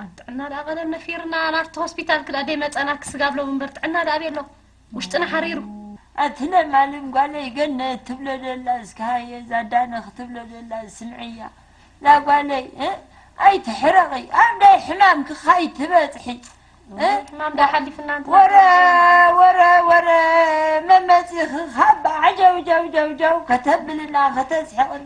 ኣን ጥዕና ደኣ ቀደም ነፊርና ናብቲ ሆስፒታል ክኣ ደይመጸና ክስጋብ ሎሚ እምበር ጥዕና ደኣ ኣበይ ኣሎ ውሽጥና ሓሪሩ። ኣቲ ለማልም ጓለይ ገነት ትብሎ ደላ እስከ ሃየ ዛዳነ ክትብሎ ደላ ስምዕያ ዛጓለይ እ ኣይትሕረቂ ኣብዳይ ሕማምኪ ካይትበጽሒ እ ሕማም ደኣ ሓሊፍና እንተ ወረ ወረ ወረ መመጺኺ ካብ ዓጀውጀውጀውጀው ከተብልና ከተስሕቕና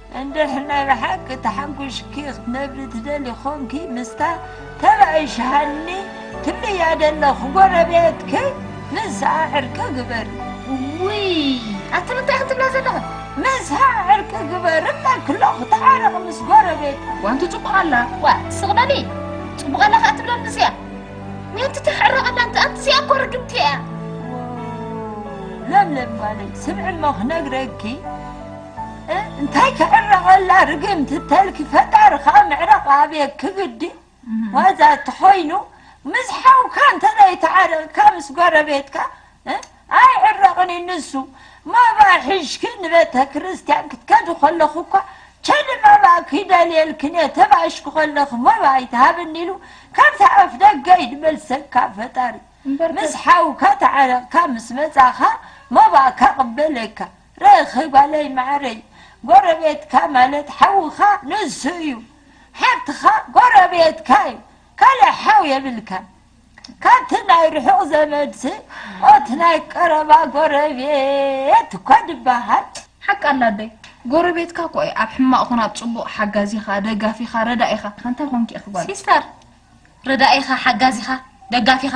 እንድሕ ናይ ብሓቂ ተሓንጉሽኪ ክትነብሪ ትደሊ ኮንኪ ምስታ ተባእሽ ሃኒ ትብልያ ደለኹ ጎረቤትኪ ምስኣ ዕርቂ ግበሪ ውይ ኣቲ እንታይ ክትብላ ዘለኹ ምስኣ ዕርቂ ግበሪ እብለኪ ኣለኹ ተዓረቕ ምስ ጎረቤት ዋንቲ ፅቡቕ ኣላ ዋ ስቕ በሊ ፅቡቕ ኣላ ከዓ ትብለኒ እዚኣ ምንቲ ተሕረቐላ እንተ ኣንቲ እዚኣ እኮ ርግምቲ እያ ለምለም ጓለይ ስምዒ እሞ ክነግረኪ እንታይ ክዕረቐላ ርግምቲ ተልኪ ፈጣሪ ከኣ ምዕራቕ ኣብየት ክብዲ ዋዛ እንተኾይኑ ምስ ሓውካ እንተዘይተዓረቕካ ምስ ጎረቤትካ ኣይዕረቕን እዩ ንሱ መባ ሒሽኪ ንቤተ ክርስቲያን ክትከዲ ከለኹ እኳ ቸሊ መባ ክይደልየልክን እየ ተባእሽኪ ከለኺ መባ ኣይትሃብኒ ኢሉ ካብቲ ኣፍ ደገ ይድመልሰካ ፈጣሪ ምስ ሓውካ ተዓረቕካ ምስ መጻኻ መባእካ ቅበለካ ርክብ ጓለይ ማዓረይ ጎረቤትካ ማለት ሓውካ ንሱ እዩ ሓፍትካ ጎረቤትካ እዩ ካልእ ሓው የብልካን ካብቲ ናይ ርሑቅ ዘመድሲ ኦቲ ናይ ቀረባ ጎረቤት እኳ ድባሃል። ሓቃ ኣላ ኣደይ ጎረቤትካ እኮ እያ ኣብ ሕማቅ ኮነ ኣብ ፅቡቅ ሓጋዚካ ደጋፊካ ረዳኢካ እንታይ ኮንኪ ኢኪ ጓለይ። ሲስተር ረዳኢካ ሓጋዚካ ደጋፊካ።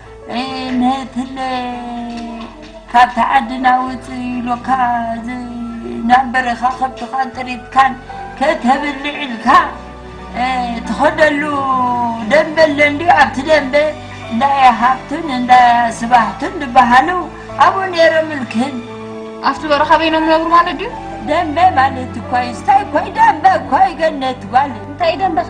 ነትለ ካብቲ ዓድና ውፅእ ኢሎካ ናብ በረኻ ከብትኻን ጥሪትካን ከተብልዕ ኢልካ ትኸደሉ ደንበ ኣለ እንድዩ ኣብቲ ደንበ እንዳያ ሃብቱን እንዳያ ስባሕቱን ዝበሃሉ ኣብኡ ነይሮም እልክን ኣብቲ በረኻ በይኖም ነብሩ ማለት ድዩ ደንበ ማለት እኳ እዩ ስታይ እኳ እዩ ደንበ እኳ እዩ ገነት ጓል እንታይ እዩ ደንበኸ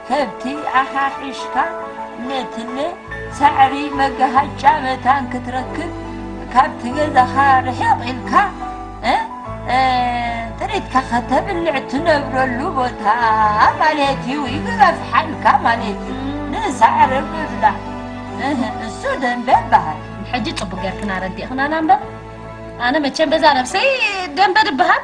ከብቲ ኣሓሒሽካ ነትለ ሳዕሪ መጋሃጫ መታን ክትረክብ ካብቲ ገዛኻ ርሕቕ ኢልካ ጥሪትካ ከተብልዕ ትነብረሉ ቦታ ማለት እዩ ይግረፍሓልካ ማለት እዩ ንሳዕሪ ምብላዕ እሱ ደንበ ይበሃል ሕጂ ፅቡቅ ገርክና ረዲእክናና እምበር ኣነ መቸም በዛ ነብሰይ ደንበ ድበሃል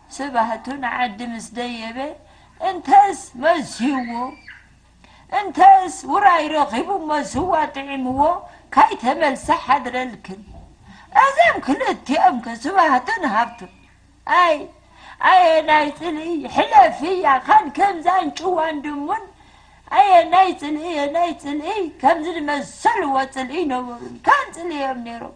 ስብሃቱ ንዓዲ ምስ ደየበ እንተስ መስዩዎ እንተስ ውራይ ረኺቡ እሞ ስዋ ጥዒምዎ ካይተመልሰ ሓድረልክን እዞም ክልቲኦም ከ ስብሃቱን ሃብቱን ኣይ ኣየናይ ጽልኢ ሕለፊ እያ ካን ከምዛን ጭዋን ድሙን ኣየናይ ጽልኢ ኣየናይ ጽልኢ ከምዚ ዝመሰልዎ ጽልኢ ይነበሩን ካን ጽልኢ እዮም ነይሮም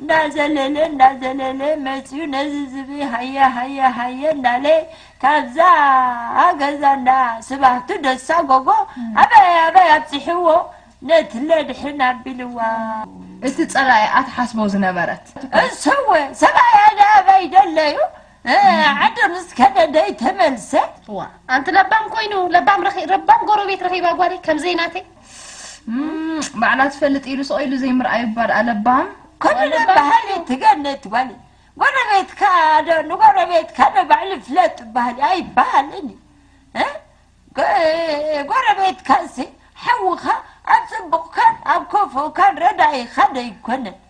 እንዳዘለለ እንዳዘለለ መፅዩ ነዚ ዝብኢ ሃየ ሃየ ሃየ እንዳለ ካብዛ ገዛ እንዳ ስባህቱ ደሳ ጎጎ ኣበይ ኣበይ ኣብፂሕዎ ነትለ ድሕን ኣቢልዋ። እቲ ፀላኢኣ ትሓስቦ ዝነበረት። እሰወ ሰብኣያ ደኣ ኣበይ ደለዩ ዓዱ ምስ ከደ ደይተመልሰ። እዋ ኣንቲ ለባም ኮይኑ ለባም ረኺ ረባም ጎረቤት ረኺባ ጓለይ ከምዘይ ናተይ። ባዕላ ትፈልጥ ኢሉ ስቕ ኢሉ ዘይምርኣዩ እባ ደኣ ለባም ኩሉ ባህሊ ትገነት ጓል ጎረቤትካ ዶ ንጎረቤትካ ዶ ባዕሉ ፍለጥ ባህሊ ኣይበሃልን እዩ ጎረቤትካሲ ሓውኻ ኣብ ፅቡቕካን ኣብ ከፉእካን ረዳኢኻ ዶ ኣይኮነን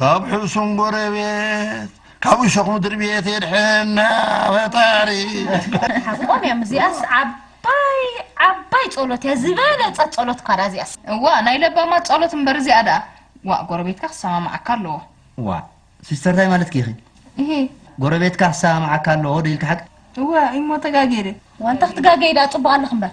ካብ ሕሱም ጎረቤት ካብ እሾኽ ምድሪ ቤት የድሕና ፈጣሪ ሓቆም እዮም እዚኣስ ዓብ ዓባይ ዓባይ ጸሎት እያ ዝበለጸት ጸሎት እኳ ድኣ እዚኣስ እዋ ናይ ለባማት ጸሎት እምበር እዚኣ ድኣ ዋእ ጎረቤትካ ክሰማምዓካ ኣለዎ ዋእ ሲስተር ታይ ማለትኪ ኢኺ እሂ ጎረቤትካ ክሰማምዓካ ኣለዎ ዶ ኢልኪ ሓቂ እወ እሞ ተጋጌደ ዋንታ ክትጋገይ ድኣ ጽቡቅ ኣለኺ እምበር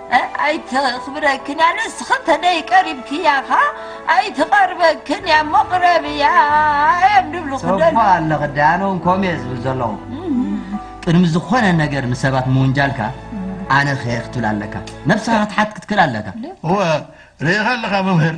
ኣይተኽብረክን እያ ንስኺ ተደይ ቀሪብክያ ኸ ኣይትቐርበክን እያ እሞ ቅረብያ እዮም ድብሉ ጽቡቕ ኣለኺ ዳያኑ እንኮም እየ ዝብል ዘለኹ ቅድሚ ዝኾነ ነገር ንሰባት ምውንጃልካ ኣነ ኸ ክትብል ኣለካ ነብስኻ ክትሓት ክትክእል ኣለካ እወ ርኢኻ ኣለኻ መምህር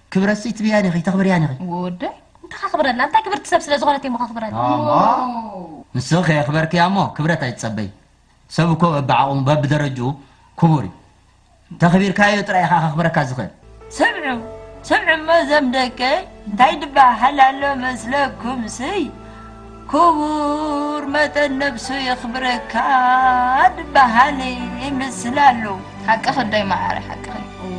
ክብረትሲ ትብያን ኢኺ ተኽብርያን ኢኺ። ወደይ እንታይ ከኽብረላ እንታይ ክብርቲ ሰብ ስለ ዝኾነት እየሞ ከኽብረላ። ንስኺ ከየኽበርክያሞ ክብረት ኣይትጸበዪ ሰብ እኮ በብዓቕሙ በብደረጅኡ ክቡር እዩ ተኽቢርካዮ ጥራይ ኢኻ ከኽብረካ ዝኽእል። ስምዑ ስምዑ እሞ እዞም ደቀይ እንታይ ድበሃል ኣሎ መስለኩም ስይ። ክቡር መጠን ነብሱ የኽብረካ ድበሃል ይምስል ኣሎ። ሓቅኺ ኣደይ ማዓረይ ሓቅኺ።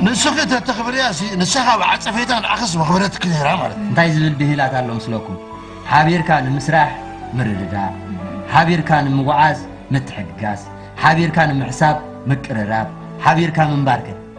ንስኺ ተተኽብርያ ሲ ንሳኻ ብዓጸፌታ ንዓኽስ መኽበረትኪ ነይራ ማለት። እንታይ ዝብል ብሂላት ኣሎ ምስለኩም ሓቢርካ ንምስራሕ ምርድዳእ ሓቢርካ ንምጉዓዝ ምትሕግጋዝ ሓቢርካ ንምሕሳብ ምቅርራብ ሓቢርካ ምንባር ከ።